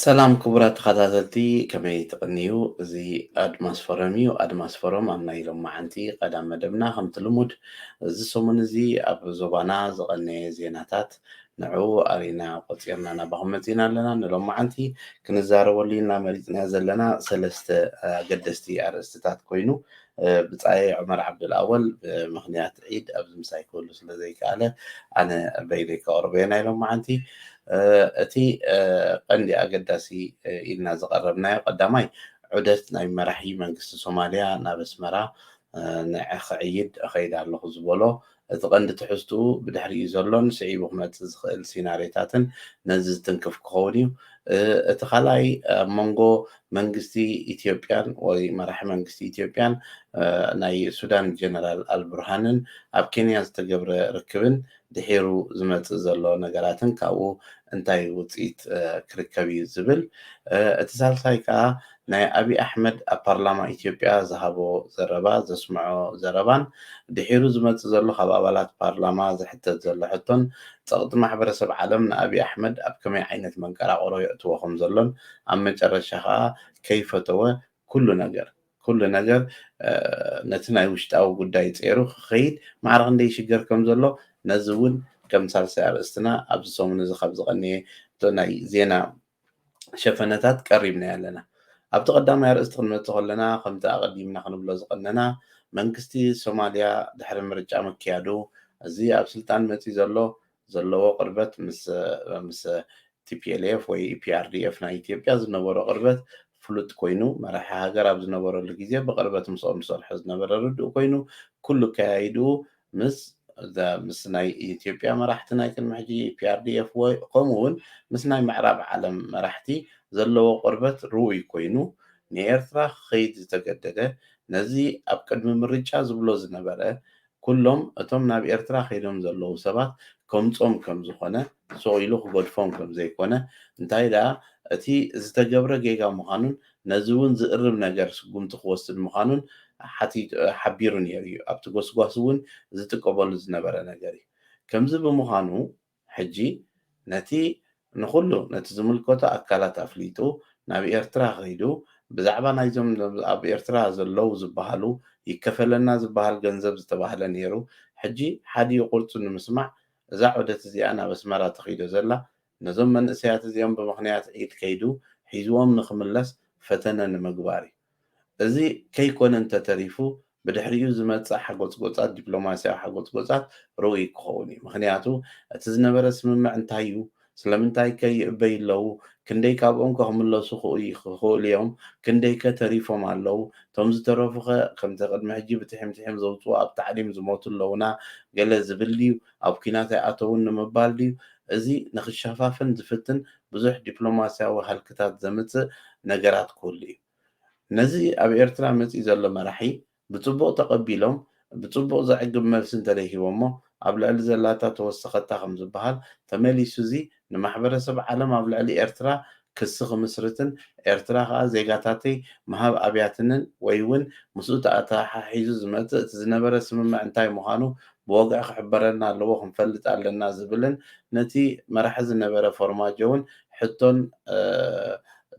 ሰላም ክቡራት ተኸታተልቲ ከመይ ትቕንዩ እዚ ኣድማስ ፎረም እዩ ኣድማስ ፎረም ኣብ ናይ ሎም መዓንቲ ቀዳም መደብና ከምቲ ልሙድ እዚ ሰሙን እዚ ኣብ ዞባና ዝቐነየ ዜናታት ንዕኡ ኣሪና ቆፂርና ናባኹም መፂና ኣለና ንሎም መዓንቲ ክንዛረበሉ ኢና መሪፅና ዘለና ሰለስተ ኣገደስቲ ኣርእስትታት ኮይኑ ብጻየይ ዑመር ዓብደልኣወል ብምኽንያት ዒድ ኣብዚ ምሳይ ክህሉ ስለ ዘይከኣለ ኣነ በይነይ ከቕርቦ እየ ናይ ሎማዓንቲ እቲ ቀንዲ ኣገዳሲ ኢልና ዝቐረብናዮ ቀዳማይ ዑደት ናይ መራሒ መንግስቲ ሶማልያ ናብ ኣስመራ ክዕይድ እኸይድ ኣለኹ ዝበሎ እቲ ቀንዲ ትሕዝትኡ ብድሕሪኡ ዘሎን ስዒቡ ክመጽእ ዝኽእል ሲናርዮታትን ነዚ ዝትንክፍ ክኸውን እዩ። እቲ ካልኣይ ኣብ መንጎ መንግስቲ ኢትዮጵያን ወይ መራሒ መንግስቲ ኢትዮጵያን ናይ ሱዳን ጀነራል ኣልቡርሃንን ኣብ ኬንያ ዝተገብረ ርክብን ድሒሩ ዝመጽእ ዘሎ ነገራትን ካብኡ እንታይ ውጽኢት ክርከብ እዩ ዝብል እቲ ሳልሳይ ከኣ ናይ ኣብይ ኣሕመድ ኣብ ፓርላማ ኢትዮጵያ ዝሃቦ ዘረባ፣ ዘስምዖ ዘረባን ድሒሩ ዝመጽእ ዘሎ ካብ ኣባላት ፓርላማ ዝሕተት ዘሎ ሕቶን ጸቕጢ ማሕበረሰብ ዓለም ንኣብይ ኣሕመድ ኣብ ከመይ ዓይነት መንቀራቕሮ የእትዎ ከምዘሎን ኣብ መጨረሻ ከኣ ከይፈተወ ኩሉ ነገር ኩሉ ነገር ነቲ ናይ ውሽጣዊ ጉዳይ ጸይሩ ክኸይድ ማዕረ ክንደይ ይሽገር ከምዘሎ ነዚ እውን ከም ሳልሳይ ኣርእስትና ኣብዚ ሰሙን እዚ ካብ ዝቐነየ እቶ ናይ ዜና ሸፈነታት ቀሪብናዮ ኣለና። ኣብቲ ቀዳማይ ኣርእስቲ ክንመጽእ ከሎና ከምቲ ኣቐዲምና ክንብሎ ዝቐነና መንግስቲ ሶማልያ ድሕሪ ምርጫ ምክያዱ እዚ ኣብ ስልጣን መጺኡ ዘሎ ዘለዎ ቅርበት ምስ tplf ወይ eprdf ናይ ኢትዮጵያ ዝነበሮ ቅርበት ፍሉጥ ኮይኑ መራሒ ሃገር ኣብ ዝነበረሉ ግዜ ብቕርበት ምስኦም ዝሰርሖ ዝነበረ ርዱእ ኮይኑ ኩሉ ኣከያይድኡ ምስ ምስ ናይ ኢትዮጵያ መራሕቲ ናይ ቅድሚ ሕጂ EPRDF ወይ ከምኡ ውን ምስ ናይ ምዕራብ ዓለም መራሕቲ ዘለዎ ቅርበት ርኡይ ኮይኑ ንኤርትራ ክኸይድ ዝተገደደ ነዚ ኣብ ቅድሚ ምርጫ ዝብሎ ዝነበረ ኩሎም እቶም ናብ ኤርትራ ከይዶም ዘለዉ ሰባት ከምጾም ከም ዝኾነ ሱቕ ኢሉ ክገድፎም ከም ዘይኮነ፣ እንታይ ደኣ እቲ ዝተገብረ ጌጋ ምዃኑን ነዚ እውን ዝእርም ነገር ስጉምቲ ክወስድ ምዃኑን ሓቢሩ ነይሩ እዩ፣ ኣብቲ ጎስጓስ እውን ዝጥቀመሉ ዝነበረ ነገር እዩ። ከምዚ ብምዃኑ ሕጂ ነቲ ንኹሉ ነቲ ዝምልከቶ ኣካላት ኣፍሊጡ ናብ ኤርትራ ከይዱ ብዛዕባ ናይዞም ኣብ ኤርትራ ዘለዉ ዝበሃሉ ይከፈለና ዝበሃል ገንዘብ ዝተባህለ ነይሩ ሕጂ ሓዲኡ ቁርጹ ንምስማዕ እዛ ዑደት እዚኣ ናብ ኣስመራ ተኺዶ ዘላ ነዞም መንእሰያት እዚኦም ብምኽንያት ዒድ ከይዱ ሒዝዎም ንኽምለስ ፈተነ ንምግባር እዩ። እዚ ከይኮነ እንተተሪፉ ብድሕሪኡ ዝመጽእ ሓጎጽጎጻት ዲፕሎማስያዊ ሓጎጽጎጻት ርኡይ ክኸውን እዩ። ምኽንያቱ እቲ ዝነበረ ስምምዕ እንታይ እዩ ስለምንታይ ከ ይእበዩ ኣለዉ? ክንደይ ካብኦም ከ ክምለሱ ክኽእሉ እዮም? ክንደይ ከ ተሪፎም ኣለዉ? እቶም ዝተረፉ ከ ከምቲ ቅድሚ ሕጂ ብትሒምትሒም ዘውጽኡ ኣብ ታዕሊም ዝሞቱ ኣለዉና ገለ ዝብል ድዩ? ኣብ ኲናት ኣይኣተዉን ንምባል ድዩ? እዚ ንኽሸፋፍን ዝፍትን ብዙሕ ዲፕሎማስያዊ ሃልክታት ዘምጽእ ነገራት ክህሉ እዩ። ነዚ ኣብ ኤርትራ መጺኡ ዘሎ መራሒ ብጽቡቕ ተቐቢሎም ብጽቡቕ ዘዕግብ መልሲ እንተደይ ሂቦሞ ኣብ ልዕሊ ዘላታ ተወሰኸታ ከም ዝበሃል ተመሊሱ እዚ ንማሕበረሰብ ዓለም ኣብ ልዕሊ ኤርትራ ክሲ ክምስርትን ኤርትራ ከኣ ዜጋታተይ ምሃብ ኣብያትንን ወይ ውን ምስኡ ተኣተሓሒዙ ዝመጽእ እቲ ዝነበረ ስምምዕ እንታይ ምዃኑ ብወግዒ ክሕበረና ኣለዎ ክንፈልጥ ኣለና ዝብልን ነቲ መራሒ ዝነበረ ፎርማጆውን ሕቶን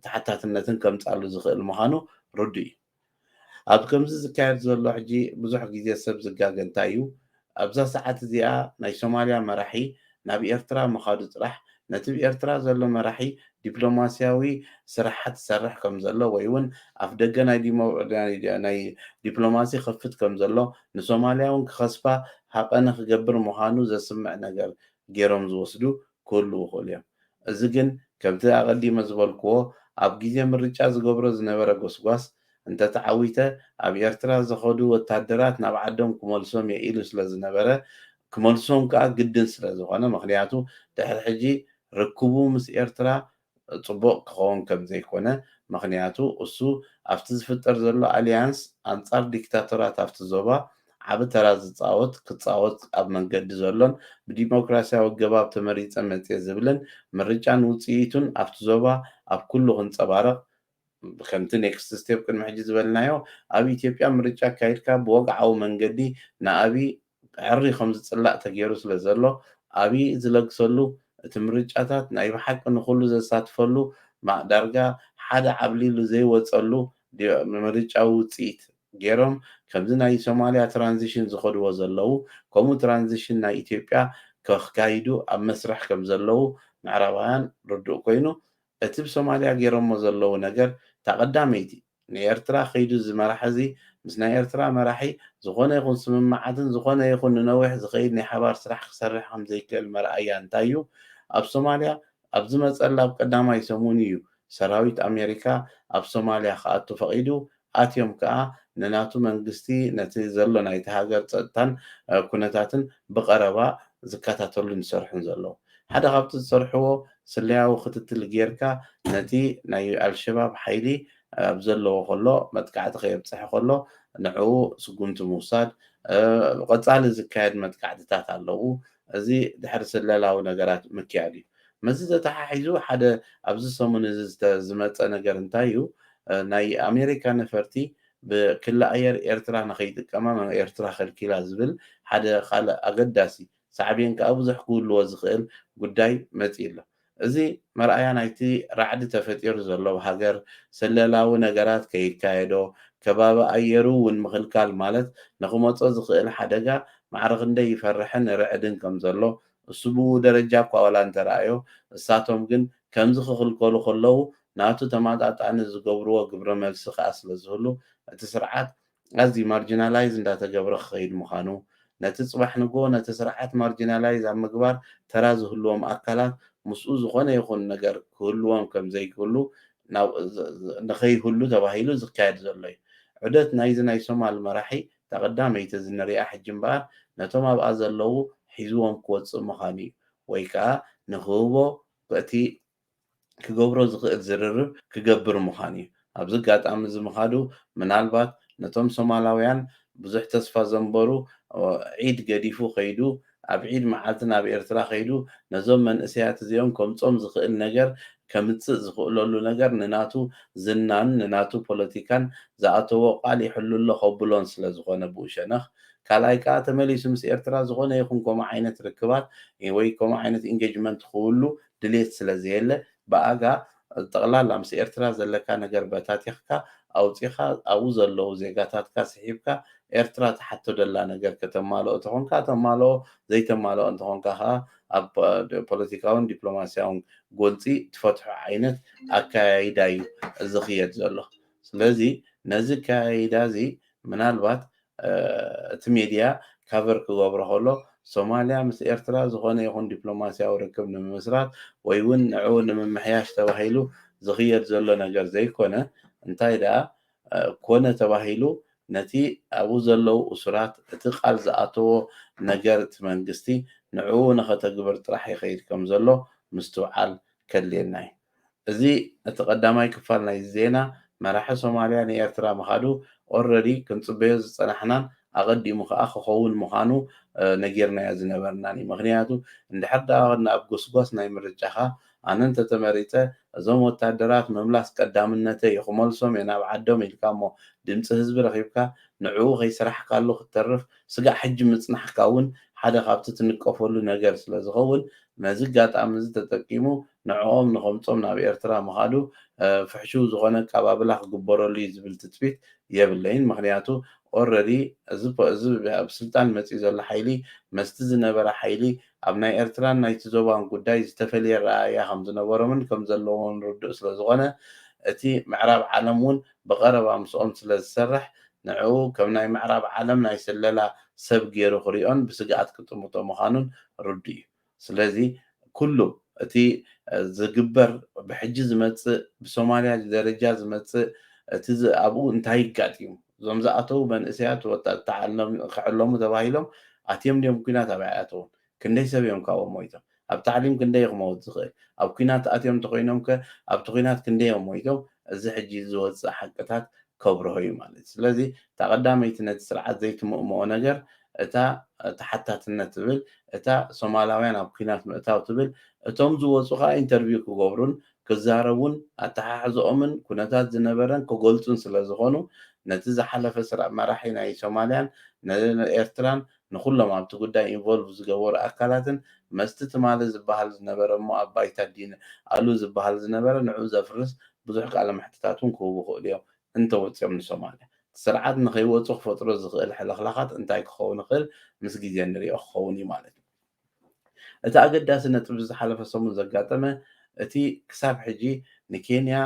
ተሓታትነትን ከምጻሉ ዝኽእል ምዃኑ ርዱእ እዩ። ኣብ ከምዚ ዝካየድ ዘሎ ሕጂ ብዙሕ ግዜ ሰብ ዝጋገ እንታይ እዩ ኣብዛ ሰዓት እዚኣ ናይ ሶማልያ መራሒ ናብ ኤርትራ ምኻዱ ጥራሕ ነቲ ብ ኤርትራ ዘሎ መራሒ ዲፕሎማስያዊ ስራሓት ዝሰርሕ ከምዘሎ ወይ ውን ኣፍደገ ናይ ዲፕሎማሲ ይኸፍት ከምዘሎ ንሶማልያ ውን ክኸስፋ ሃቐነ ክገብር ምኻኑ ዘስምዕ ነገር ጌሮም ዝወስዱ ክህልዉ ይኽእሉ እዮም። እዚ ግን ከምቲ ኣቐዲመ ዝበልክዎ ኣብ ግዜ ምርጫ ዝገብሮ ዝነበረ ጎስጓስ እንተ ተዓዊተ ኣብ ኤርትራ ዝኸዱ ወታደራት ናብ ዓዶም ክመልሶም እየ ኢሉ ስለ ዝነበረ ክመልሶም ከኣ ግድን ስለ ዝኾነ ምኽንያቱ ድሕሪ ሕጂ ርክቡ ምስ ኤርትራ ጽቡቕ ክኸውን ከም ዘይኮነ ምኽንያቱ እሱ ኣብቲ ዝፍጠር ዘሎ ኣሊያንስ ኣንጻር ዲክታቶራት ኣብቲ ዞባ ዓቢ ተራ ዝጻወት ክጻወት ኣብ መንገዲ ዘሎን ብዲሞክራስያዊ ኣገባብ ተመሪጸ መጽየ ዝብልን ምርጫን ውጽኢቱን ኣብቲ ዞባ ኣብ ኩሉ ክንጸባረቕ ከምቲ ኔክስት ስቴፕ ቅድሚ ሕጂ ዝበልናዮ ኣብ ኢትዮጵያ ምርጫ ኣካይድካ ብወግዓዊ መንገዲ ንኣብይ ሕሪ ከምዝጽላእ ተጌሩ ስለዘሎ ኣብይ ዝለግሰሉ እቲ ምርጫታት ናይ ብሓቂ ንኹሉ ዘሳትፈሉ ዳርጋ ሓደ ዓብሊሉ ዘይወጸሉ ምርጫዊ ውጽኢት ጌሮም ከምዚ ናይ ሶማልያ ትራንዚሽን ዝኸድዎ ዘለዉ ከምኡ ትራንዚሽን ናይ ኢትዮጵያ ከካይዱ ኣብ መስርሕ ከምዘለዉ ምዕራባውያን ርዱእ ኮይኑ እቲ ብ ሶማልያ ጌሮሞ ዘለዉ ነገር እታ ቀዳመይቲ ን ኤርትራ ክይዱ እዚ መራሒ እዚ ምስ ናይ ኤርትራ መራሒ ዝኮነ ይኩን ስምምዓትን ዝኮነ ይኩን ንነዊሕ ዝከይድ ናይ ሓባር ስራሕ ክሰርሕ ከም ዘይክእል መርኣያ እንታይ እዩ ኣብ ሶማልያ ኣብ ዝመጸላ ብ ቀዳማይ ሰሙን እዩ ሰራዊት ኣሜሪካ ኣብ ሶማልያ ክኣቱ ፈቂዱ ኣትዮም ከኣ ንናቱ መንግስቲ ነቲ ዘሎ ናይቲ ሃገር ጸጥታን ኩነታትን ብቐረባ ዝከታተሉን ዝሰርሑን ዘለዉ። ሓደ ካብቲ ዝሰርሕዎ ስለያዊ ክትትል ጌርካ ነቲ ናይ ኣልሸባብ ሓይሊ ኣብ ዘለዎ ከሎ መጥቃዕቲ ከየብጽሐ ከሎ ንዕኡ ስጉምቲ ምውሳድ፣ ቐጻሊ ዝካየድ መጥቃዕትታት ኣለዉ እዚ ድሕሪ ስለላዊ ነገራት ምክያድ እዩ። ምስዚ ተተሓሒዙ ሓደ ኣብዚ ሰሙን እዚ ዝመጸ ነገር እንታይ እዩ፣ ናይ ኣሜሪካ ነፈርቲ ብክሊ ኣየር ኤርትራ ንኸይጥቀማ ኤርትራ ከልኪላ ዝብል ሓደ ካልእ ኣገዳሲ ሳዕቤን ከኣ ብዙሕ ክህልዎ ዝኽእል ጉዳይ መጺኡ ኣሎ። እዚ መርኣያ ናይቲ ራዕዲ ተፈጢሩ ዘሎ ኣብ ሃገር ስለላዊ ነገራት ከይካየዶ ከባቢ ኣየሩ ውን ምኽልካል ማለት ንኽመጾ ዝኽእል ሓደጋ ማዕረ ክንደይ ይፈርሕን ይርዕድን ከም ዘሎ እሱ ብኡ ደረጃ እኳ ዋላ እንተረኣዮ እሳቶም ግን ከምዚ ክኽልከሉ ከለዉ ናቱ ተማጣጣኒ ዝገብርዎ ግብረ መልሲ ከኣ ስለ ዝህሉ እቲ ስርዓት ኣዝዩ ማርጂናላይዝ እንዳተገብረ ክኸይድ ምዃኑ፣ ነቲ ጽባሕ ንግሆ ነቲ ስርዓት ማርጂናላይዝ ኣብ ምግባር ተራ ዝህልዎም ኣካላት ምስኡ ዝኾነ ይኹን ነገር ክህልዎም ከም ዘይክህሉ ንኸይህሉ ተባሂሉ ዝካየድ ዘሎ እዩ። ዑደት ናይዚ ናይ ሶማል መራሒ እታ ቀዳመይቲ እዚ ንሪኣ ሕጂ እምበኣር ነቶም ኣብኣ ዘለዉ ሒዝዎም ክወጽእ ምዃኑ እዩ ወይ ከኣ ንክህቦ እቲ ክገብሮ ዝኽእል ዝርርብ ክገብር ምዃኑ'ዩ። ኣብዚ ኣጋጣሚ'ዚ ምኻዱ ምናልባት ነቶም ሶማላውያን ብዙሕ ተስፋ ዘንበሩ ዒድ ገዲፉ ከይዱ ኣብ ዒድ መዓልቲ ናብ ኤርትራ ከይዱ ነዞም መንእሰያት እዚኦም ከምጾም ዝኽእል ነገር ከምጽእ ዝኽእለሉ ነገር ንናቱ ዝናን ንናቱ ፖለቲካን ዝኣተዎ ቃል ይሕሉ'ሎ ከብሎን ስለ ዝኾነ ብኡ ሸነኽ ካልኣይ ከኣ ተመሊሱ ምስ ኤርትራ ዝኾነ ይኹን ከምኡ ዓይነት ርክባት ወይ ከምኡ ዓይነት ኢንገጅመንት ክህሉ ድሌት ስለ ዘየለ ብኣጋ ጠቕላላ ምስ ኤርትራ ዘለካ ነገር በታቲኽካ ኣውጺኻ ኣብኡ ዘለዉ ዜጋታትካ ስሒብካ ኤርትራ ትሓቶ ደላ ነገር ከተማልኦ ተኾንካ ተማልኦ ዘይተማልኦ እንተኾንካ ከኣ ኣብ ፖለቲካውን ዲፕሎማስያውን ጎንጺ ትፈትሖ ዓይነት ኣከያይዳ እዩ ዝኽየድ ዘሎ ስለዚ ነዚ ኣከያይዳ እዚ ምናልባት እቲ ሜድያ ካቨር ክገብሮ ከሎ፣ ሶማልያ ምስ ኤርትራ ዝኾነ ይኹን ዲፕሎማስያዊ ርክብ ንምምስራት ወይ'ውን ንዕኡ ንምምሕያሽ ተባሂሉ ዝኽየድ ዘሎ ነገር ዘይኮነ፣ እንታይ ደኣ ኮነ ተባሂሉ ነቲ ኣብኡ ዘለዉ እሱራት እቲ ቃል ዝኣተዎ ነገር እቲ መንግስቲ ንዕኡ ንኸተግብር ጥራሕ ይኸይድ ከምዘሎ ምስትውዓል ከድልየና'ዩ። እዚ እቲ ቀዳማይ ክፋል ናይዚ ዜና መራሒ ሶማልያ ንኤርትራ ምኻዱ ኦረዲ ክንጽበዮ ዝጸናሕናን ኣቀዲሙ ከኣ ክኸውን ምኻኑ ነጊርናዮ ዝነበርናን እዩ ምኽንያቱ እንድሕር ደኣ ኣብ ጎስጓስ ናይ ምርጫኻ ኣነ እንተተመሪጸ እዞም ወታደራት ምምላስ ቀዳምነተይ እዩ ክመልሶም እየ ናብ ዓዶም ኢልካ እሞ ድምጺ ህዝቢ ረኺብካ ንዕኡ ከይሰራሕካሉ ክትተርፍ ስጋዕ ሕጂ ምጽናሕካ እውን ሓደ ካብቲ ትንቀፈሉ ነገር ስለዝኸውን ነዚ ኣጋጣሚ እዚ ተጠቂሙ ንዕኦም ንኸምጾም ናብ ኤርትራ ምኻዱ ፍሕሹው ዝኾነ ኣቃባብላ ክግበረሉ እዩ ዝብል ትጽቢት የብለይን ምኽንያቱ ኦረዲ እዚ እዚ ኣብ ስልጣን መጽዩ ዘሎ ሓይሊ መስቲ ዝነበረ ሓይሊ ኣብ ናይ ኤርትራን ናይቲ ዞባን ጉዳይ ዝተፈልየ ኣረኣእያ ከም ዝነበሮምን ከም ዘለዎን ርዱእ ስለ ዝኾነ እቲ ምዕራብ ዓለም ውን ብቐረባ ምስኦም ስለ ዝሰርሕ ንዕኡ ከም ናይ ምዕራብ ዓለም ናይ ስለላ ሰብ ጌሩ ክሪኦን ብስግኣት ክጥምቶ ምኻኑን ርዱእ እዩ። ስለዚ ኩሉ እቲ ዝግበር ብሕጂ ዝመጽእ ብሶማልያ ደረጃ ዝመጽእ እቲ ኣብኡ እንታይ ይጋጢም እዞም ዝኣተዉ መንእሰያት ወጣት ክዕለሙ ተባሂሎም ኣትዮም ድዮም ኩናት ኣበይ ኣይኣተዉን ክንደይ ሰብ እዮም ካብኦም ሞይቶም ኣብ ታዕሊም ክንደይ እዩ ክመውት ዝኽእል ኣብ ኩናት ኣትዮም እንተኾይኖም ከ ኣብቲ ኩናት ክንደይ እዮም ሞይቶም እዚ ሕጂ ዝወጽእ ሓቅታት ከብርሆ እዩ ማለት እዩ ስለዚ እታ ቀዳመይቲ ነቲ ስርዓት ዘይትምእምኦ ነገር እታ ተሓታትነት ትብል እታ ሶማላውያን ኣብ ኩናት ምእታው ትብል እቶም ዝወጹ ከኣ ኢንተርቪው ክገብሩን ክዛረቡን ኣተሓሕዘኦምን ኩነታት ዝነበረን ክገልጹን ስለ ዝኾኑ ነቲ ዝሓለፈ ስርዕ መራሒ ናይ ሶማልያን ንኤርትራን ንኹሎም ኣብቲ ጉዳይ ኢንቮልቭ ዝገበሩ ኣካላትን መስቲ ትማሊ ዝበሃል ዝነበረ እሞ ኣብ ባይታ ዲን ኣሉ ዝበሃል ዝነበረ ንዕኡ ዘፍርስ ብዙሕ ቃለ መሕትታት እውን ክህቡ ይኽእሉ እዮም እንተወጺኦም ንሶማልያ፣ እቲ ስርዓት ንኸይወጹ ክፈጥሮ ዝኽእል ሕልኽላኻት እንታይ ክኸውን ይኽእል ምስ ግዜ ንሪኦ ክኸውን እዩ ማለት እዩ። እቲ ኣገዳሲ ነጥቢ ብዝሓለፈ ሰሙን ዘጋጠመ እቲ ክሳብ ሕጂ ንኬንያ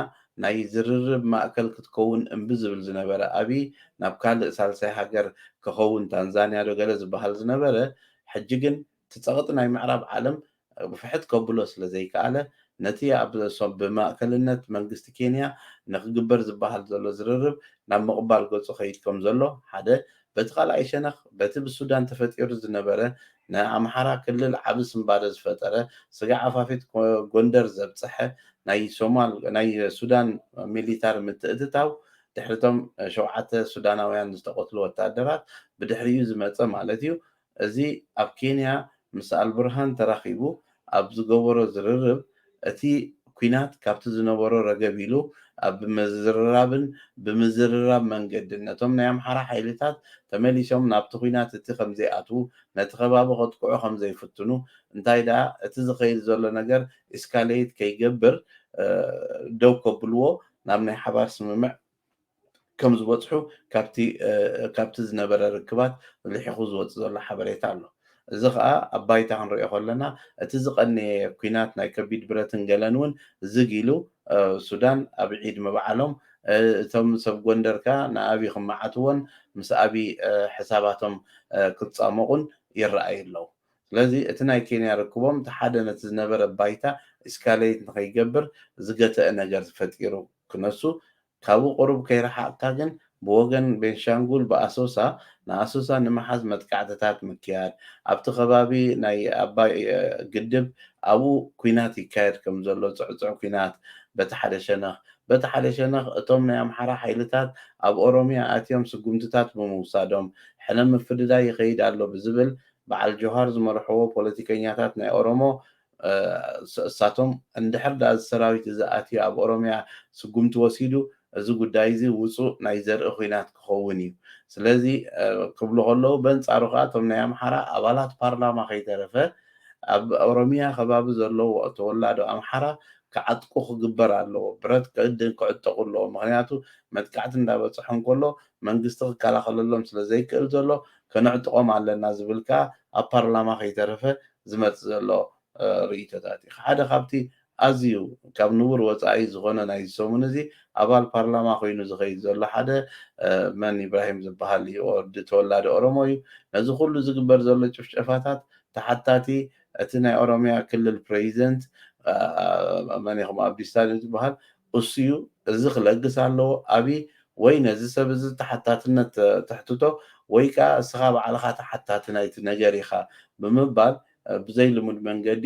ናይ ዝርርብ ማእከል ክትከውን እምቢ ዝብል ዝነበረ ኣብይ ናብ ካልእ ሳልሳይ ሃገር ክኸውን ታንዛንያ ዶ ገለ ዝበሃል ዝነበረ ሕጂ ግን እቲ ጸቕጢ ናይ ምዕራብ ዓለም ግፍሕት ከብሎ ስለዘይከኣለ፣ ነቲ ኣብ ብ ማእከልነት መንግስቲ ኬንያ ንክግበር ዝበሃል ዘሎ ዝርርብ ናብ ምቕባል ገጹ ከይድ ከምዘሎ ሓደ፣ በቲ ካልኣይ ሸነኽ በቲ ብሱዳን ተፈጢሩ ዝነበረ ንኣምሓራ ክልል ዓቢ ስንባደ ዝፈጠረ ስጋዕ ኣፋፌት ጎንደር ዘብጸሐ ናይ ሶማል ናይ ሱዳን ሚሊታሪ ምትእትታው ድሕሪ እቶም ሸውዓተ ሱዳናውያን ዝተቐትሉ ወተሃደራት ብድሕሪኡ ዝመጸ ማለት'ዩ እዚ ኣብ ኬንያ ምስ ኣልቡርሃን ተራኺቡ ኣብ ዝገበሮ ዝርርብ፣ እቲ ኲናት ካብቲ ዝነበሮ ረገብ ኢሉ ኣብ ብምዝርራብን ብምዝርራብ መንገድን ነቶም ናይ ኣምሓራ ሓይልታት ተመሊሶም ናብቲ ኲናት እቲ ከምዘይኣትዉ ነቲ ከባቢ ከጥቅዑ ከምዘይፍትኑ እንታይ ደኣ እቲ ዝኸይድ ዘሎ ነገር ኢስካለይት ከይገብር ደው ከብልዎ ናብ ናይ ሓባር ስምምዕ ከምዝበጽሑ ካብቲ ካብቲ ዝነበረ ርክባት ልሒኹ ዝወጽእ ዘሎ ሓበሬታ ኣሎ። እዚ ከኣ ኣብ ባይታ ክንርእዮ ከሎና እቲ ዝቐነየ ኩናት ናይ ከቢድ ብረትን ገለን እውን ዝግ ኢሉ ሱዳን ኣብ ዒድ ምብዓሎም እቶም ሰብ ጎንደር ከኣ ንኣብይ ክመዓትዎን ምስ ኣብይ ሕሳባቶም ክጻሞቑን ይረኣዩ ኣለዉ። ስለዚ እቲ ናይ ኬንያ ርክቦም እቲ ሓደ ነቲ ዝነበረ ባይታ ኢስካለይት ንኸይገብር ዝገተእ ነገር ፈጢሩ። ክነሱ ካብኡ ቁሩብ ከይረሓቕካ ግን ብወገን ቤንሻንጉል ብኣሶሳ ንኣሶሳ ንምሓዝ መጥቃዕትታት ምክያድ፣ ኣብቲ ከባቢ ናይ ኣባይ ግድብ ኣብኡ ኲናት ይካየድ ከም ዘሎ ጽዕጹዕ ኲናት በቲ ሓደ ሸነኽ፣ በቲ ሓደ ሸነኽ እቶም ናይ ኣምሓራ ሓይልታት ኣብ ኦሮሚያ ኣትዮም ስጉምትታት ብምውሳዶም ሕነ ምፍድዳይ ይኸይድ ኣሎ ብዝብል በዓል ጆሃር ዝመርሕዎ ፖለቲከኛታት ናይ ኦሮሞ እሳቶም እንድሕር ድኣ እዚ ሰራዊት እዚ ኣትዩ ኣብ ኦሮምያ ስጉምቲ ወሲዱ እዚ ጉዳይ እዚ ውጹእ ናይ ዘርኢ ኹናት ክኸውን እዩ ስለዚ ክብሉ ከለዉ በንጻሩ ከኣ እቶም ናይ ኣምሓራ ኣባላት ፓርላማ ከይተረፈ ኣብ ኦሮምያ ከባቢ ዘለዉ ተወላዶ ኣምሓራ ክዓጥቁ ክግበር ኣለዎ ብረት ክዕድን ክዕጠቁ ኣለዎ ምኽንያቱ መጥቃዕቲ እንዳበጽሖም ከሎ መንግስቲ ክከላኸለሎም ስለ ዘይክእል ዘሎ ከነዕጥቆም ኣለና ዝብል ከኣ ኣብ ፓርላማ ከይተረፈ ዝመጽእ ዘሎ ርእይቶታት እዩ። ሓደ ካብቲ ኣዝዩ ካብ ንቡር ወጻኢ ዝኾነ ናይዚ ሰሙን እዚ ኣባል ፓርላማ ኮይኑ ዝኸይድ ዘሎ ሓደ መን ኢብራሂም ዝበሃል እዩ ኦርዲ ተወላዲ ኦሮሞ እዩ ነዚ ኩሉ ዝግበር ዘሎ ጭፍጨፋታት ተሓታቲ እቲ ናይ ኦሮሚያ ክልል ፕረዚደንት መን ኢኹም ኣብዲስታ ዶ ዝበሃል እሱዩ እዚ ክለግስ ኣለዎ ኣብይ ወይ ነዚ ሰብ እዚ ተሓታትነት ተሕትቶ ወይ ከኣ እስኻ ባዕልኻ ተሓታቲ ናይቲ ነገር ኢኻ ብምባል ብዘይ ልሙድ መንገዲ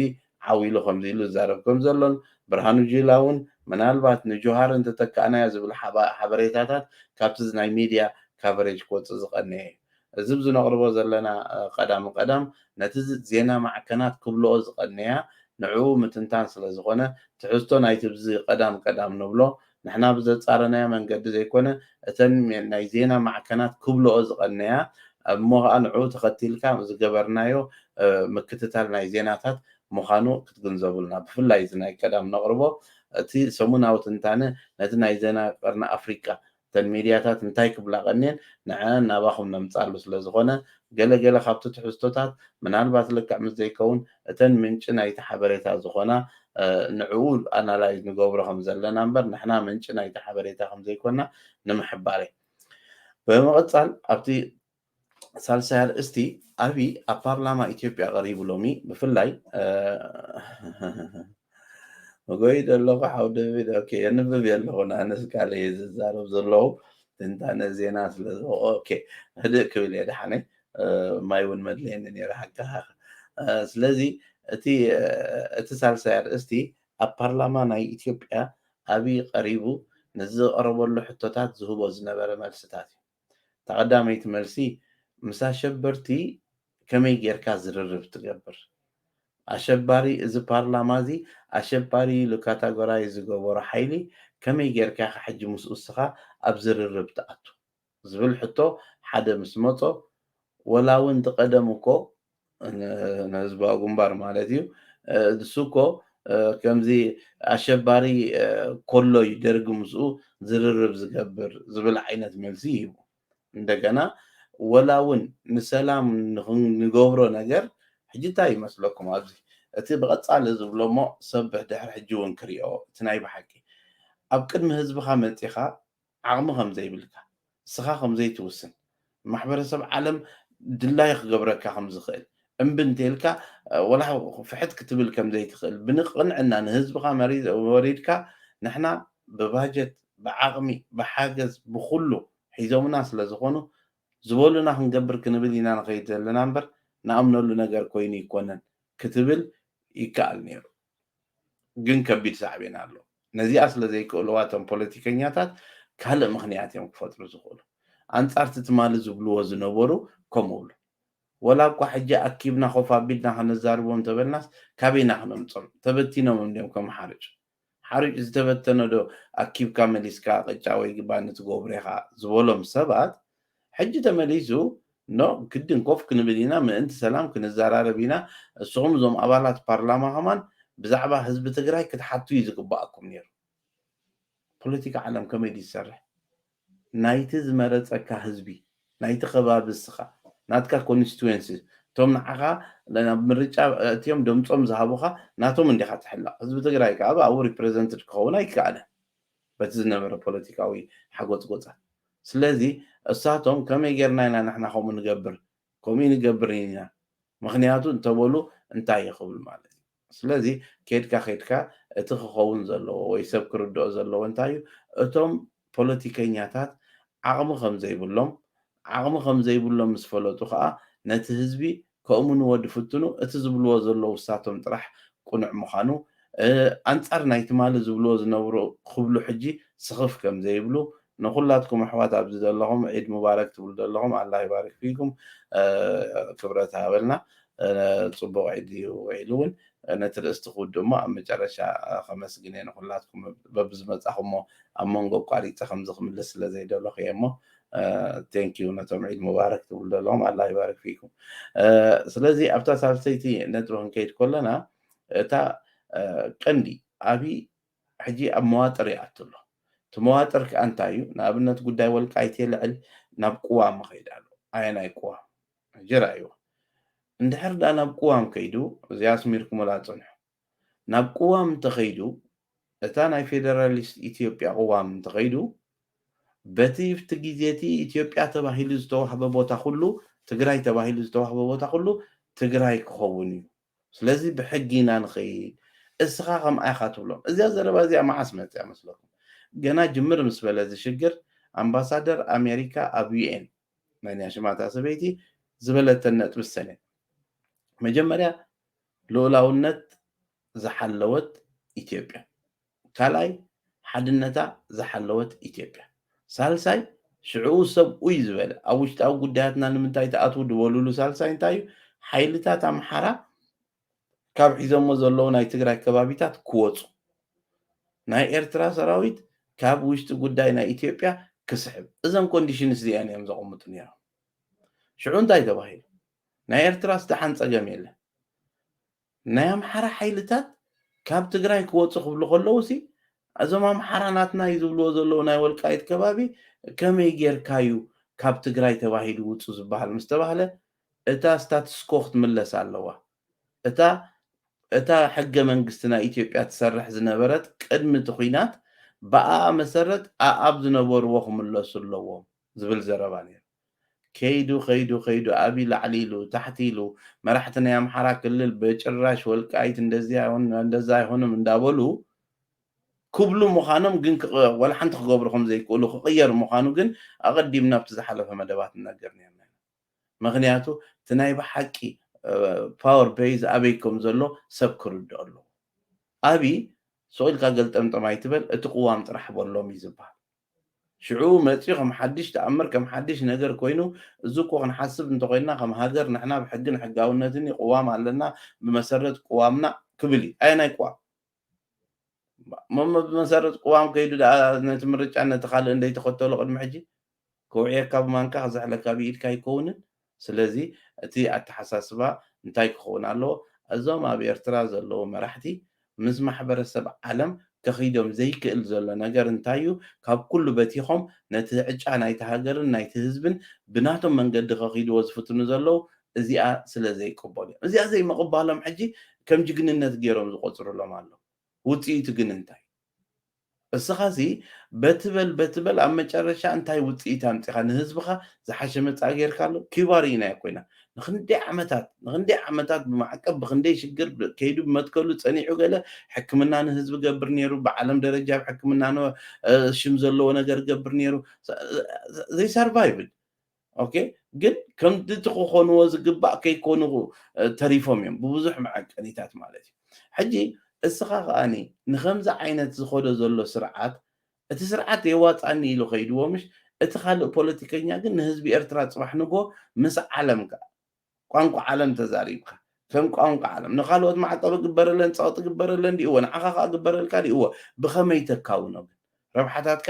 ዓው ኢሉ ከምዚ ኢሉ ዝዛረብ ከምዘሎን ብርሃኑ ጁላ ውን ምናልባት ንጁሃር እንተተካእናዮ ዝብል ሓበሬታታት ካብቲ ናይ ሚድያ ካቨሬጅ ክወጽእ ዝቀነየ እዩ። እዚ ኣብዚ ነቕርቦ ዘለና ቀዳም ቀዳም ነቲ ዜና ማዕከናት ክብልኦ ዝቐነያ ንዕኡ ምትንታን ስለ ዝኾነ ትሕዝቶ ናይቲ ኣብዚ ቀዳም ቀዳም ንብሎ ንሕና ብዘጻረናዮ መንገዲ ዘይኮነ እተን ናይ ዜና ማዕከናት ክብልኦ ዝቐነያ እሞ ከኣ ንዕኡ ተኸቲልካ ዝገበርናዮ ምክትታል ናይ ዜናታት ምዃኑ ክትግንዘቡልና ብፍላይ እዚ ናይ ቀዳም ነቕርቦ እቲ ሰሙናዊ ትንታነ ነቲ ናይ ዜና ቀርኒ ኣፍሪቃ እተን ሚድያታት እንታይ ክብላ ቀንየን ንዐኣን ናባኹም ነምጽኣሉ ስለዝኾነ ገለ ገለ ካብቲ ትሕዝቶታት ምናልባት ልክዕ ምስ ዘይከውን እተን ምንጪ ናይቲ ሓበሬታ ዝኾና ንዕኡ ኣናላይዝ ንገብሮ ከም ዘለና እምበር ንሕና ምንጪ ናይቲ ሓበሬታ ከም ዘይኮና ንምሕባር እየ ብምቕጻል ኣብቲ ሳልሳይ ኣርእስቲ ኣብይ ኣብ ፓርላማ ኢትዮጵያ ቀሪቡ ሎሚ ብፍላይ መጎይ ደለኹ ሓው ደቪድ ኦኬ የንብብ የለኹ ኣነስ ካልእ እየ ዝዛረብ ዘለኹ ትንታነ ዜና ስለ ኦኬ ህድእ ክብል እየ ደሓነይ ማይ እውን መድለየኒ ነይረ ሓቂ ስለዚ እቲ እቲ ሳልሳይ ኣርእስቲ ኣብ ፓርላማ ናይ ኢትዮጵያ ኣብይ ቀሪቡ ነዚ ዝቐረበሉ ሕቶታት ዝህቦ ዝነበረ መልስታት እዩ እታ ቀዳመይቲ መልሲ ምስ ኣሸበርቲ ከመይ ጌርካ ዝርርብ ትገብር ኣሸባሪ እዚ ፓርላማ እዚ ኣሸባሪ ኢሉ ካታጎራይዝ ዝገበሮ ሓይሊ ከመይ ጌርካ ኢኻ ሕጂ ምስኡ እስኻ ኣብ ዝርርብ ትኣቱ ዝብል ሕቶ ሓደ ምስ መጾ ወላ ውን እቲ ቀደም እኮ ንህዝባዊ ግንባር ማለት እዩ ንሱ እኮ ከምዚ ኣሸባሪ ኮሎ እዩ ደርጊ ምስኡ ዝርርብ ዝገብር ዝብል ዓይነት መልሲ ይህቡ እንደገና ወላ እውን ንሰላም ንገብሮ ነገር ሕጂ እንታይ ይመስለኩም ኣብዚ እቲ ብቐጻሊ ዝብሎ እሞ ሰብ ድሕሪ ሕጂ እውን ክሪኦ እቲ ናይ ብሓቂ ኣብ ቅድሚ ህዝብኻ መጺኻ ዓቕሚ ከም ዘይብልካ፣ ንስኻ ከም ዘይትውስን፣ ንማሕበረሰብ ዓለም ድላዩ ክገብረካ ከም ዝኽእል እምቢ እንተኢልካ ወላ ፍሕት ክትብል ከም ዘይትኽእል ብንቕንዕና ንህዝብኻ ወሪድካ ንሕና ብባጀት ብዓቕሚ ብሓገዝ ብኹሉ ሒዞምና ስለ ዝኾኑ ዝበሉና ክንገብር ክንብል ኢና ንኸይድ ዘለና እምበር ንኣምነሉ ነገር ኮይኑ ኣይኮነን ክትብል ይከኣል ነይሩ። ግን ከቢድ ሳዕቤን ኣሎ። ነዚኣ ስለ ዘይክእልዋ እቶም ፖለቲከኛታት ካልእ ምኽንያት እዮም ክፈጥሩ ዝኽእሉ። ኣንጻርቲ ትማሊ ዝብልዎ ዝነበሩ ከምኡ ይብሉ። ወላ እኳ ሕጂ ኣኪብና ኮፍ ኣቢልና ከነዛርቦም እንተበልናስ ካበይ ኢና ክነምጾም? ተበቲኖም እንድዮም ከም ሓርጭ። ሓርጭ ዝተበተነዶ ኣኪብካ መሊስካ ቅጫ ወይ ባኒ ትገብሮ ኢኻ ዝበሎም ሰባት ሕጂ ተመሊሱ ን ግድን ኮፍ ክንብል ኢና ምእንቲ ሰላም ክንዛራረብ ኢና እስኹም እዞም ኣባላት ፓርላማ ከማን ብዛዕባ ህዝቢ ትግራይ ክትሓቱ እዩ ዝግባኣኩም ኔሩ ፖለቲካ ዓለም ከመይ ድዩ ዝሰርሕ ናይቲ ዝመረጸካ ህዝቢ ናይቲ ከባቢ እስኻ ናትካ ኮንስቲዌንሲ እቶም ንዓኻ ናብ ምርጫ እትዮም ደምጾም ዝሃቡኻ ናቶም እንዲኻ ትሕለቕ ህዝቢ ትግራይ ከኣ ብኣኡ ሪፕረዘንትድ ክኸውን ኣይከኣልን በቲ ዝነበረ ፖለቲካዊ ሓጎጽጎጻት። ስለዚ እሳቶም ከመይ ጌርና ኢና ንሕና ከምኡ ንገብር፣ ከምኡ ኣይንገብርን ኢና ምኽንያቱ እንተበሉ እንታይ እዩ ክብል ማለት እዩ። ስለዚ ኬድካ ኬድካ እቲ ክኸውን ዘለዎ ወይ ሰብ ክርድኦ ዘለዎ እንታይ እዩ እቶም ፖለቲከኛታት ዓቕሚ ከም ዘይብሎም ዓቕሚ ከም ዘይብሎም ምስ ፈለጡ ከኣ ነቲ ህዝቢ ከእምንዎ ድፍትኑ፣ እቲ ዝብልዎ ዘለዉ እሳቶም ጥራሕ ቅኑዕ ምዃኑ፣ ኣንጻር ናይ ትማሊ ዝብልዎ ዝነብሩ ክብሉ ሕጂ ስኽፍ ከም ዘይብሉ፣ ንኹላትኩም ኣሕዋት ኣብዚ ደለኹም ዒድ ሙባረክ ትብሉ ደለኹም ኣላህ ይባሪክ ፊኩም ክብረት ይሃበልና ጽቡቕ ዒድ እዩ ዊዒሉ ውን ነቲ ርእስቲ ክውድእ እሞ ኣብ መጨረሻ ከመስግን እየ ንኹላትኩም በብዝመጻኹሞ ኣብ መንጎ ኣቋሪጸ ከምዚ ክምልስ ስለ ዘይደለኹ እየ እሞ ቴንኪዩ ነቶም ዒድ ሙባረክ ትብሉ ዘለኹም ኣላ ይባርክ ፊኩም ስለዚ ኣብታ ሳልሰይቲ ነጥቢ ክንከይድ ከለና እታ ቀንዲ ኣብይ ሕጂ ኣብ መዋጥር ይኣቱ ኣሎ እቲ መዋጥር ከዓ እንታይ እዩ ንኣብነት ጉዳይ ወልቃይት የልዕል ናብ ቅዋም ይኸይድ ኣሎ ኣየናይ ቅዋም ሕጂ ርኣይዎ እንድሕር ዳ ናብ ቅዋም ከይዱ እዚኣ ኣስሚርኩምላ ፅንሑ ናብ ቅዋም እንተኸይዱ እታ ናይ ፌደራሊስት ኢትዮጵያ ቅዋም እንተኸይዱ በቲ ብቲ ግዜ እቲ ኢትዮጵያ ተባሂሉ ዝተዋህበ ቦታ ኩሉ ትግራይ ተባሂሉ ዝተዋህበ ቦታ ኩሉ ትግራይ ክኸውን እዩ ስለዚ ብሕጊ ኢና ንኸይድ እስኻ ከምኣ ኢኻ ትብሎም እዚኣ ዘረባ እዚኣ መዓስ መፅኣ መስለኩም ገና ጅምር ምስ በለ እዚ ሽግር ኣምባሳደር ኣሜሪካ ኣብ ዩኤን መን እያ ሽማ እታ ሰበይቲ ዝበለተን ነጥቢ ሰነ መጀመርያ ልኡላውነት ዝሓለወት ኢትዮጵያ። ካልኣይ ሓድነታ ዝሓለወት ኢትዮጵያ። ሳልሳይ ሽዕኡ ሰብ ኡይ ዝበለ ኣብ ውሽጣዊ ጉዳያትና ንምንታይ ትኣትዉ ድበሉሉ ሳልሳይ እንታይ እዩ ሓይልታት ኣምሓራ ካብ ሒዞሞ ዘለዉ ናይ ትግራይ ከባቢታት ክወፁ ናይ ኤርትራ ሰራዊት ካብ ውሽጢ ጉዳይ ናይ ኢትዮጵያ ክስሕብ እዘን ኮንዲሽንስ እዚኣን እዮም ዘቐምጡ ነይሮም ሽዑ እንታይ ተባሂሉ ናይ ኤርትራስ ደሓን ጸገም የለን ናይ ኣምሓራ ሓይልታት ካብ ትግራይ ክወጹ ክብሉ ከለዉሲ እዞም ኣምሓራ ናትና እዩ ዝብልዎ ዘለዉ ናይ ወልቃይት ከባቢ ከመይ ጌርካ እዩ ካብ ትግራይ ተባሂሉ ውጹ ዝበሃል ምስ ተባህለ እታ ስታትስኮ ክትምለስ ኣለዋ እታ እታ ሕገ መንግስቲ ናይ ኢትዮጵያ ትሰርሕ ዝነበረት ቅድሚ እቲ ኲናት ብኣኣ መሰረት ኣኣብ ዝነበርዎ ክምለሱ ኣለዎም ዝብል ዘረባ ነይሩ ከይዱ ከይዱ ከይዱ ኣብይ ላዕሊ ኢሉ ታሕቲ ኢሉ መራሕቲ ናይ ኣምሓራ ክልል በጭራሽ ወልቃይት እንደዚ ኣይሆንም እንደዛ ኣይሆንም እንዳበሉ ክብሉ ምዃኖም ግን ወላ ሓንቲ ክገብሩ ከም ዘይክእሉ ክቕየር ምዃኑ ግን ኣቐዲምና ኣብቲ ዝሓለፈ መደባት ንነግር ነይርና ኢና ምኽንያቱ እቲ ናይ ብሓቂ ፓወር ቤዝ ኣበይ ከም ዘሎ ሰብ ክርድኦ ኣለዎ ኣብይ ሱቕ ኢልካ ገልጠምጠም ኣይትበል እቲ ቅዋም ጥራሕ በሎም እዩ ዝብሃል ሽዑ መጺኡ ከም ሓድሽ ተኣምር ከም ሓድሽ ነገር ኮይኑ እዚ እኮ ክንሓስብ እንተኾይንና ከም ሃገር ንሕና ብ ሕግን ሕጋውነትን እዩ ቅዋም ኣለና ብመሰረት ቅዋምና ክብል እዩ ኣየናይ ቅዋም ሞሞ ብመሰረት ቅዋም ከይዱ ደኣ ነቲ ምርጫን ነቲ ካልእን ዘይተኸተሎ ቅድሚ ሕጂ ከውዕየካ ብማንካ ክዝሕለካ ብኢድካ ኣይከውንን ስለዚ እቲ ኣተሓሳስባ እንታይ ክኸውን ኣለዎ? እዞም ኣብ ኤርትራ ዘለዉ መራሕቲ ምስ ማሕበረሰብ ዓለም ከኺዶም ዘይክእል ዘሎ ነገር እንታይ እዩ? ካብ ኩሉ በቲኾም ነቲ ዕጫ ናይቲ ሃገርን ናይቲ ህዝብን ብናቶም መንገዲ ከኺድዎ ዝፍትኑ ዘለዉ እዚኣ ስለ ዘይቅበሉ እዮም። እዚኣ ዘይምቕባሎም ሕጂ ከም ጅግንነት ገይሮም ዝቖጽሩሎም ኣለዉ። ውጽኢቱ ግን እንታይ? እስኻሲ በቲ በል በቲ በል ኣብ መጨረሻ እንታይ ውጽኢት ኣምጺኻ ንህዝብኻ ዝሓሸ መጻኢ ጌርካሉ? ኪዩባ ርኢናዮ ኮይና ንኽንደይ ዓመታት ንኽንደይ ዓመታት ብማዕቀብ ብኽንደይ ሽግር ከይዱ ብመትከሉ ጸኒዑ ገለ ሕክምና ንህዝቢ ገብር ኔሩ ብዓለም ደረጃ ኣብ ሕክምና ሽም ዘለዎ ነገር ገብር ኔሩ ዘይሰርቫይቭድ ኦኬ ግን ከምቲ እቲ ክኾንዎ ዝግባእ ከይኮኑ ተሪፎም እዮም ብብዙሕ መዐቀኒታት ማለት እዩ ሕጂ እስኻ ከኣኒ ንከምዚ ዓይነት ዝኸዶ ዘሎ ስርዓት እቲ ስርዓት የዋፃኒ ኢሉ ከይድዎ ምሽ እቲ ካልእ ፖለቲከኛ ግን ንህዝቢ ኤርትራ ፅባሕ ንጎ ምስ ዓለም ከዓ ቋንቋ ዓለም ተዛሪብካ ከም ቋንቋ ዓለም ንካልኦት ማዕቀብ ግበረለን ፀቕጢ ግበረለን ዲእዎ ንዓኻ ከዓ ግበረልካ ዲእዎ ብኸመይ ተካውኖ ግን ረብሓታትካ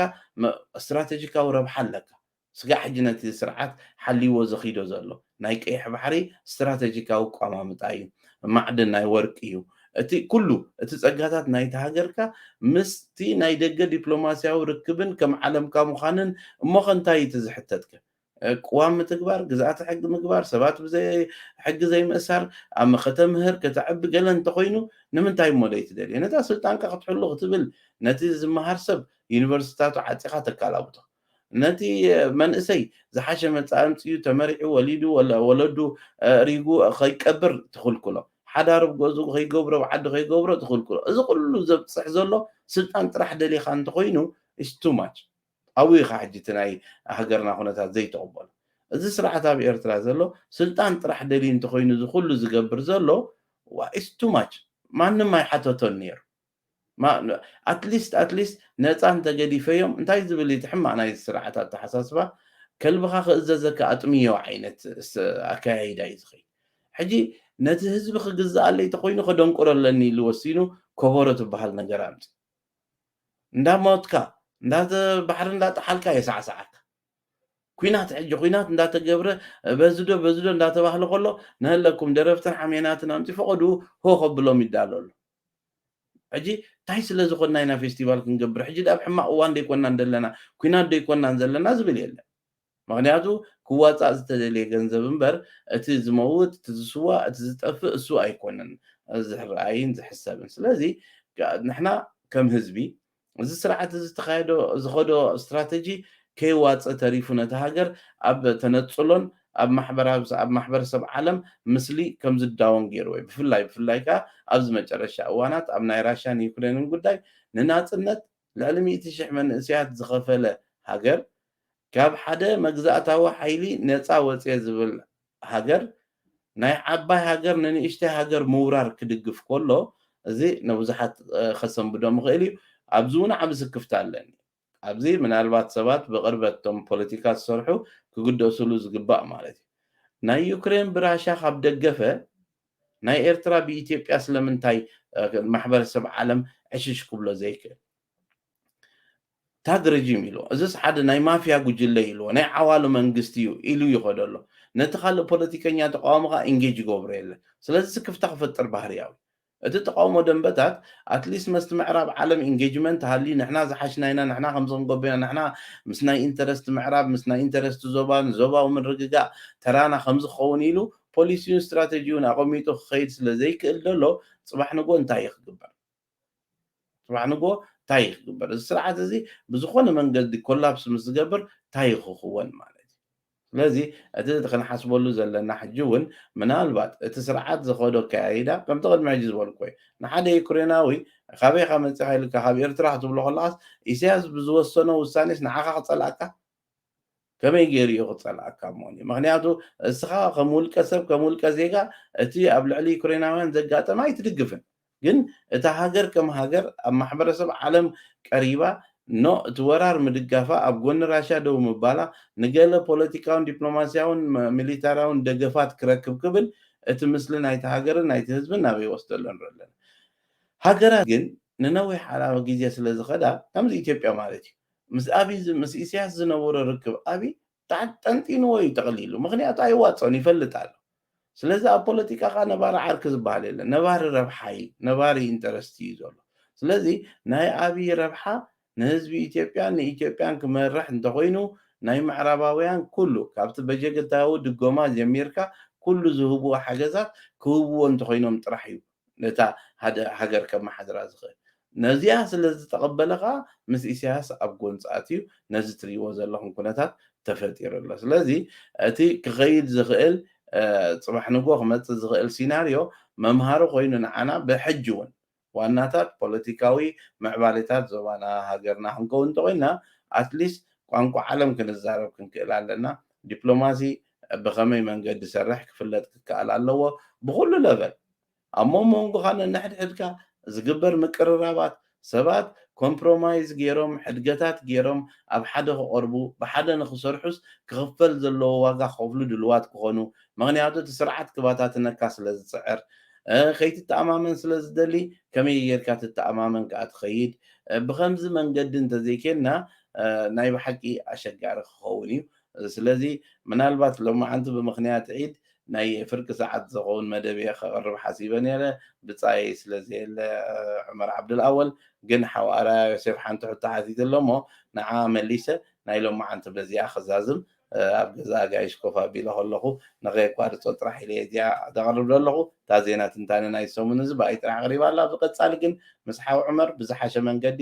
ስትራቴጂካዊ ረብሓ ኣለካ ስጋዕ ሕጂ ነቲ ስርዓት ሓልይዎ ዘኺዶ ዘሎ ናይ ቀይሕ ባሕሪ ስትራተጂካዊ ኣቋማምጣ እዩ። ማዕድን ናይ ወርቂ እዩ። እቲ ኩሉ እቲ ጸጋታት ናይታ ሃገርካ ምስቲ ናይ ደገ ዲፕሎማሲያዊ ርክብን ከም ዓለምካ ምዃንን እሞኸ እንታይ እዩ እቲ ዝሕተትከ? ቅዋም ምትግባር፣ ግዝኣተ ሕጊ ምግባር፣ ሰባት ብዘይ ሕጊ ዘይምእሳር፣ ኣብ ከተምህር ከተዕቢ ገለ እንተኾይኑ ንምንታይ እሞ ዘይትደልዮ? ነታ ስልጣንካ ክትሕሉ ክትብል ነቲ ዝመሃር ሰብ ዩኒቨርሲቲታቱ ዓጺኻ ተካላብቶ። ነቲ መንእሰይ ዝሓሸ መጻኢ ኣምጺኡ ተመሪዑ ወሊዱ ወለዱ ኣእሪጉ ከይቀብር ትኽልክሎ፣ ሓዳር ኣብ ገዝኡ ከይገብሮ ኣብ ዓዱ ከይገብሮ ትኽልክሎ፣ እዚ ኩሉ ዘብጽሕ ዘሎ ስልጣን ጥራሕ ደሊኻ እንተኾይኑ is too much ኣብኡ ኢኻ ሕጂ እቲ ናይ ሃገርና ኩነታት ዘይትቕበሎ። እዚ ስርዓት ኣብ ኤርትራ ዘሎ ስልጣን ጥራሕ ደልዩ እንተኾይኑ እዚ ኩሉ ዝገብር ዘሎ is too much ማንም ኣይሓተቶን ኔሩ። ኣትሊስት ኣትሊስት ነጻ እንተ ገዲፈዮም እንታይ ዝብል እዩ እቲ ሕማቕ ናይዚ ስርዓት ኣተሓሳስባ ከልብኻ ክእዘዘካ ኣጥምዮ ዓይነት ኣከያይዳ እዩ ዝኸይድ ሕጂ ነቲ ህዝቢ ክግዝኣለይ ተኾይኑ ከደንቁሮ ኣለኒ ኢሉ ወሲኑ ኮቦሮ ትበሃል ነገር ኣምጺኡ እንዳ ሞትካ እንዳ ባሕሪ እንዳ ጠሓልካ የሳዕሳዓካ ኩናት ሕጂ ኩናት እንዳተገብረ በዝዶ በዝዶ እንዳተባህለ ከሎ ንህለኩም ደረፍትን ሓሜናትን ኣምፂ ፈቐዱ ሆ ከብሎም ይዳሎ ኣሎ ሕጂ ታይ ስለ ዝኮና ኢና ፌስቲቫል ክንገብር ሕጂ ድኣ ኣብ ሕማቅ እዋን ደይኮናን ዘለና ኩናት ደይኮናን ዘለና ዝብል የለን ምክንያቱ ክዋጻእ ዝተደልየ ገንዘብ እምበር እቲ ዝመውት እቲ ዝስዋእ እቲ ዝጠፍእ እሱ ኣይኮነን ዝርኣይን ዝሕሰብን ስለዚ ንሕና ከም ህዝቢ እዚ ስርዓት እዚ ተኻይዶ ዝኸዶ ስትራተጂ ከይዋፀ ተሪፉ ነታ ሃገር ኣብ ተነፅሎን ኣብ ማሕበረሰብ ዓለም ምስሊ ከምዝዳወን ገይርዎ እዩ። ብፍላይ ብፍላይ ከኣ ኣብዚ መጨረሻ እዋናት ኣብ ናይ ራሻን ዩክሬንን ጉዳይ ንናፅነት ልዕሊ ሚእቲ ሽሕ መንእሰያት ዝኸፈለ ሃገር ካብ ሓደ መግዛእታዊ ሓይሊ ነፃ ወፅየ ዝብል ሃገር ናይ ዓባይ ሃገር ንንእሽተይ ሃገር ምውራር ክድግፍ ከሎ እዚ ንብዙሓት ከሰንብዶም ይኽእል እዩ። ኣብዚ እውን ዓቢ ስክፍታ ኣለኒ። ኣብዚ ምናልባት ሰባት ብቕርበት እቶም ፖለቲካ ዝሰርሑ ክግደሱሉ ዝግባእ ማለት እዩ። ናይ ዩክሬን ብራሻ ካብ ደገፈ ናይ ኤርትራ ብኢትዮጵያ ስለምንታይ ማሕበረሰብ ዓለም ዕሽሽ ክብሎ ዘይክእል? ታግ ረጂም ኢልዎ፣ እዝስ ሓደ ናይ ማፍያ ጉጅለ ኢልዎ፣ ናይ ዓዋሉ መንግስቲ እዩ ኢሉ ይኸዶ ኣሎ። ነቲ ካልእ ፖለቲከኛ ተቓዋሚ ከኣ ኢንጌጅ ይገብሮ የለን። ስለዚ ስክፍታ ክፈጥር ባህርያዊ እዩ። እቲ ተቓውሞ ደንበታት ኣት ሊስት መስቲ ምዕራብ ዓለም ኢንጌጅመንት ሃልዩ ንሕና ዝሓሽና ኢና፣ ንሕና ከምዚ ክንገብር ኢና፣ ንሕና ምስ ናይ ኢንተረስት ምዕራብ፣ ምስ ናይ ኢንተረስት ዞባ፣ ንዞባዊ ምርግጋእ ተራና ከምዚ ክኸውን ኢሉ ፖሊሲኡን ስትራተጂኡን ኣቐሚጡ ክኸይድ ስለ ዘይክእል ዘሎ ጽባሕ ንግሆ እንታይ እዩ ክግበር? ጽባሕ ንግሆ ታይ እዩ ክግበር? እዚ ስርዓት እዚ ብዝኾነ መንገዲ ኮላፕስ ምስ ዝገብር ታይ እዩ ክኽወን ማለት እዩ? ስለዚ እቲ ክንሓስበሉ ዘለና ሕጂ እውን ምናልባት እቲ ስርዓት ዝኸዶ ኣከያይዳ ከምቲ ቅድሚ ሕጂ ዝበልክዎ እዩ። ንሓደ ዩክሬናዊ ካበይ ኢኻ መጺኻ ኢልካ ካብ ኤርትራ ክትብሎ ከለኻስ ኢሰያስ ብዝወሰኖ ውሳኔስ ንዓኻ ክጸልኣካ ከመይ ገይሩ እዩ ክጸልኣካ እሞኒ? ምኽንያቱ እስኻ ከም ውልቀ ሰብ ከም ውልቀ ዜጋ እቲ ኣብ ልዕሊ ዩክሬናውያን ዘጋጠመ ኣይትድግፍን ግን እታ ሃገር ከም ሃገር ኣብ ማሕበረሰብ ዓለም ቀሪባ ን እቲ ወራር ምድጋፋ ኣብ ጎኒ ራሻ ደው ምባላ ንገለ ፖለቲካውን ዲፕሎማስያውን ሚሊታራውን ደገፋት ክረክብ ክብል እቲ ምስሊ ናይቲ ሃገርን ናይቲ ህዝብን ናበይ ይወስዶ ኣሎ ንርኢ ኣለና። ሃገራት ግን ንነዊሕ ዓላዊ ግዜ ስለ ዝኸዳ ከምዚ ኢትዮጵያ ማለት እዩ ምስ ኣብይ ዝ ምስ ኢሰያስ ዝነበሮ ርክብ ኣብይ ጣዕ ጠንጢንዎ እዩ ጠቕሊሉ ምኽንያቱ ኣይዋጾን ይፈልጥ ኣሎ ስለዚ ኣብ ፖለቲካ ከኣ ነባሪ ዓርኪ ዝበሃል የለን ነባሪ ረብሓ እዩ ነባሪ ኢንተረስቲ እዩ ዘሎ ስለዚ ናይ ኣብይ ረብሓ ንህዝቢ ኢትዮጵያን ንኢትዮጵያን ክመርሕ እንተኾይኑ ናይ ምዕራባውያን ኩሉ ካብቲ በጀግታዊ ድጎማ ጀሚርካ ኩሉ ዝህብዎ ሓገዛት ክህብዎ እንተኾይኖም ጥራሕ እዩ ነታ ሃደ ሃገር ከማሓድራ ዝኽእል ነዚኣ ስለ ዝተቐበለ ከኣ ምስ ኢሳያስ ኣብ ጎንጺ ኣትዩ ነዚ ትሪእዎ ዘለኹም ኩነታት ተፈጢሩ ኣሎ ስለዚ እቲ ክኸይድ ዝኽእል ጽባሕ ንግሆ ክመጽእ ዝኽእል ሲናርዮ መምሃሪ ኮይኑ ንዓና ብሕጂ ውን ዋናታት ፖለቲካዊ ምዕባሌታት ዞባና ሃገርና ክንከውን እንተኾይንና ኣትሊስት ቋንቋ ዓለም ክንዛረብ ክንክእል ኣለና ዲፕሎማሲ ብኸመይ መንገዲ ሰርሕ ክፍለጥ ክከኣል ኣለዎ ብኹሉ ለቨል ኣብ ሞሞንጎኻ ነንሕድሕድካ ዝግበር ምቅርራባት ሰባት ኮምፕሮማይዝ ጌሮም ሕድገታት ጌሮም ኣብ ሓደ ክቐርቡ ብሓደ ንኽሰርሑስ ክኽፈል ዘለዎ ዋጋ ክኸፍሉ ድልዋት ክኾኑ ምኽንያቱ እቲ ስርዓት ክባታትነካ ስለ ዝጽዕር ከይትተኣማመን ስለ ዝደሊ ከመይ ጌርካ ትተኣማመን ከኣ ትኸይድ ብኸምዚ መንገዲ እንተዘይኬንና ናይ ብሓቂ ኣሸጋሪ ክኸውን እዩ ስለዚ ምናልባት ሎማዓንቲ ብምኽንያት ዒድ ናይ ፍርቂ ሰዓት ዝኸውን መደብ'የ ከቕርብ ሓሲበ ነይረ፣ ብጻየይ ስለዘየለ ዑመር ዓብዱልኣወል ግን ሓው ኣርኣያ ዮሴፍ ሓንቲ ሕቶ ሓቲቱ'ሎ'ሞ ንዓኣ መሊሰ ናይ ሎማዓንቲ በዚኣ ክዛዝም ኣብ ገዛ ኣጋይሽ ኮፍ ኣቢለ ከለኹ ንኸየቋርጾ ጥራሕ ኢለ'የ እዚኣ ዘቕርብ ዘለኹ እታ ዜና ትንታነ ናይዚ ሰሙን'ዚ ብኣይ ጥራሕ ቐሪባ'ላ ብቐጻሊ ግን ምስ ሓው ዑመር ብዝሓሸ መንገዲ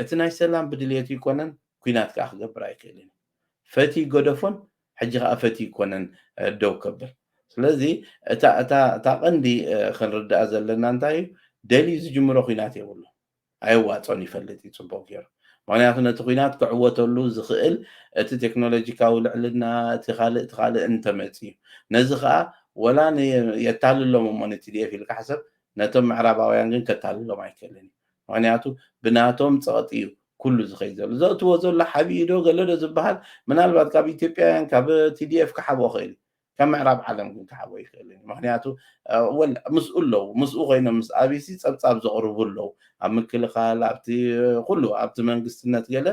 እቲ ናይ ሰላም ብድልየቱ ይኮነን ኩናት ከኣ ክገብር ኣይክእልን እዩ ፈትዪ ገደፎን ሕጂ ከኣ ፈትዪ ይኮነን ደው ከብል ስለዚ እታ እታ እታ ቀንዲ ክንርዳኣ ዘለና እንታይ እዩ ደልዩ ዝጅምሮ ኩናት የብሉን ኣየዋጾን ይፈልጥ እዩ ጽቡቅ ገይሩ ምክንያቱ ነቲ ኩናት ክዕወተሉ ዝክእል እቲ ቴክኖሎጂካዊ ልዕልና እቲ ካልእ እቲ ካልእ እንተመጽ እዩ ነዚ ከኣ ወላ የታልሎም እሞ ንቲዲኤፍ ኢልካ ሕሰብ ነቶም ምዕራባውያን ግን ከታልሎም ኣይክእልን እዩ ምክንያቱ ብናቶም ጸቕጢ እዩ ኩሉ ዝኸይድ ዘሎ። ዘእትዎ ዘሎ ሓቢኡ ዶ ገለ ዶ ዝበሃል ምናልባት ካብ ኢትዮጵያውያን ካብ TDF ክሓብኦ ክእል እዩ። ካብ ምዕራብ ዓለም ግን ክሓብኦ ኣይክእልን እዩ። ምክንያቱ ወል ምስኡ ኣለዉ ምስኡ ኮይኖም ምስ ኣብይሲ ጸብጻብ ዘቕርቡ ኣለዉ። ኣብ ምክልኻል ኣብቲ ኩሉ ኣብቲ መንግስትነት ገለ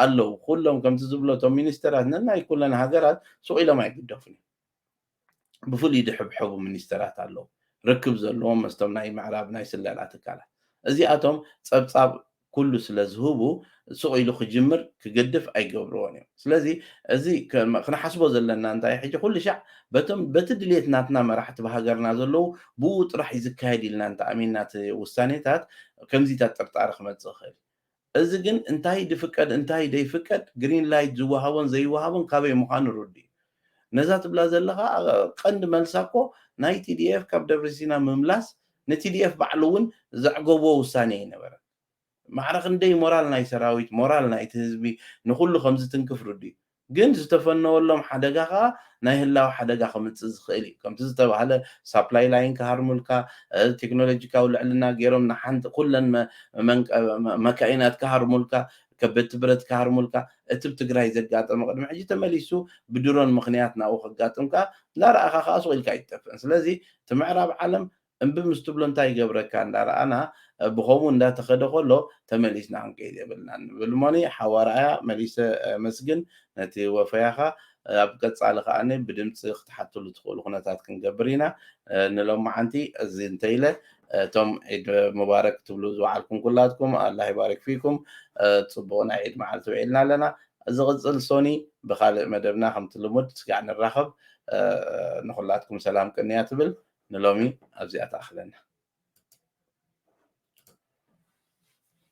ኣለዉ። ኩሎም ከምቲ ዝብሎ እቶም ሚኒስተራት ነናይ ኩለን ሃገራት ሱቕ ኢሎም ኣይግደፉን እዮም። ብፍሉይ ዝሕብሐቡ ሚኒስተራት ኣለዉ፣ ርክብ ዘለዎም ምስቶም ናይ ምዕራብ ናይ ስለላ ትካላት። እዚኣቶም ጸብጻብ ኩሉ ስለ ዝህቡ ስቕ ኢሉ ክጅምር ክገድፍ ኣይገብርዎን እዮም። ስለዚ እዚ ክንሓስቦ ዘለና እንታይ ሕጂ ኩልሻዕ በቶም በቲ ድሌት ናትና መራሕቲ ኣብ ሃገርና ዘለዉ ብኡ ጥራሕ እዩ ዝካየድ ኢልና እንተኣሚንና እቲ ውሳኔታት ከምዚታት ጥርጣረ ክመጽእ ይኽእል እዩ። እዚ ግን እንታይ ድፍቀድ እንታይ ደይፍቀድ ግሪን ላይት ዝወሃቦን ዘይወሃቦን ካበይ ምዃኑ ርዱእ እዩ። ነዛ ትብላ ዘለኻ ቀንዲ መልሳ እኮ ናይ TDF ካብ ደብረሲና ምምላስ ን TDF ባዕሉ እውን ዘዕገቦ ውሳኔ ኣይነበረን። ማዕረ ክንደይ ሞራል ናይ ሰራዊት ሞራል ናይቲ ህዝቢ ንኹሉ ከምዝትንክፍ ርዱእ እዩ። ግን ዝተፈነወሎም ሓደጋ ከኣ ናይ ህላወ ሓደጋ ከምጽእ ዝኽእል እዩ። ከምቲ ዝተባህለ ሳፕላይ ላይን ክሃርሙልካ፣ ቴክኖሎጂካዊ ልዕልና ገይሮም ንሓንቲ ኩለን መካይናት ክሃርሙልካ፣ ከበድቲ ብረት ክሃርሙልካ፣ እቲ ብ ትግራይ ዘጋጠመ ቅድሚ ሕጂ ተመሊሱ ብድሮን ምኽንያት ናብኡ ከጋጥም ከኣ እንዳረኣኻ ከኣ ሱቕ ኢልካ ኣይትጠፍእን። ስለዚ እቲ ምዕራብ ዓለም እምቢ ምስ ትብሎ እንታይ ይገብረካ እንዳረኣና ብኸምኡ እንዳተኸደ ከሎ ተመሊስና ክንከይድ የብልናን ንብል እሞኒ ሓው ኣርኣያ መሊሰ ኣመስግን ነቲ ወፈያኻ ኣብ ቀጻሊ ከኣ ብድምጺ ክትሓትሉ ትኽእሉ ኩነታት ክንገብር ኢና ንሎምዓንቲ እዚ እንተኢለ እቶም ዒድ ሙባረክ ክትብሉ ዝወዓልኩም ኩላትኩም ኣላህ ይባሪክ ፊኩም ጽቡቕ ናይ ዒድ መዓልቲ ውዒልና ኣለና ዝቕጽል ሶኒ ብኻልእ መደብና ከምቲ ልሙድ ስጋዕ ንራኸብ ንኹላትኩም ሰላም ቅንያት እብል ንሎሚ ኣብዚኣ ትኣኽለና።